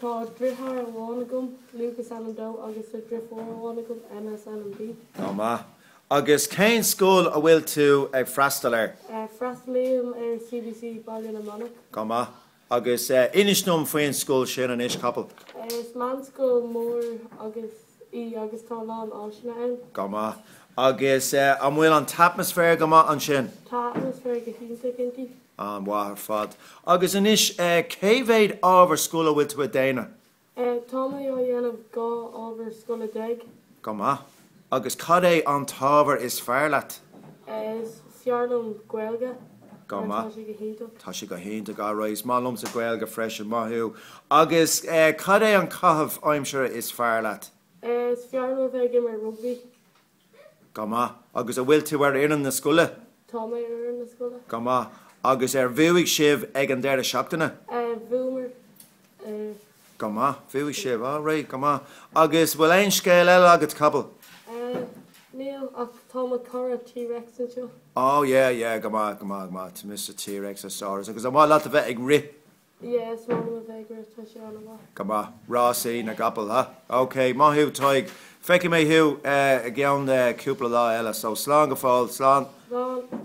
Tá deartháir amháin agam, Lucas is ainm dó agus deirfiúr amháin agam, Emma is ainm di. Go maith. Agus cén scoil a bhfuil tú ag freastal air? Freastalaím ar CBC Baile na Manach. Go maith. Agus inis dom faoin scoil sin, anois Cathal. Is meánscoil mhór. í agus tá a lán áiseanna ann. Go maith. Agus an bhfuil an t-atmaisféar go maith ansin? Tá an t-atmaisféar go hiontach inti. An-mhaith ar fad. Agus anois, cé mhéad ábhar scoile a bhfuil tú ag déanamh? Tá mé ag déanamh dhá ábhar scoile déag. Go maith. Agus cad é an t-ábhar is fearr leat? Is fearr liom Gaeilge. Go maith. Tá sé go hiontach, alright. Is maith liomsa Gaeilge freisin, maith thú. Agus cad é an caitheamh aimsire is fearr leat? Is fearr liom a bheith ag imirt rugbaí. Go maith. Agus an bhfuil tú ar fhoireann na scoile? Tá mé ar fhoireann na scoile. Go maith. Agus ar bhuaigh sibh ag an deireadh seachtaine? Bhuamar. Go maith. Bhuaigh sibh, alright, go maith. Agus bhfuil aon scéal eile agat, Cathal? Níl, ach tá mo chara T-Rex anseo. Ó, yeah, yeah. Go maith, go maith, go maith. Tá Mr T-Rexasaurus. Agus an maith leat a bheith ag rith? Yeah, is maith liom a bheith ag rith. Tá sé an-mhaith. Go maith. Rásaí na gcapall, ha? OK, maith thú, Tadhg. Feicfidh mé thú i gceann cúpla lá eile, so slán go fóill. Slán. Slán.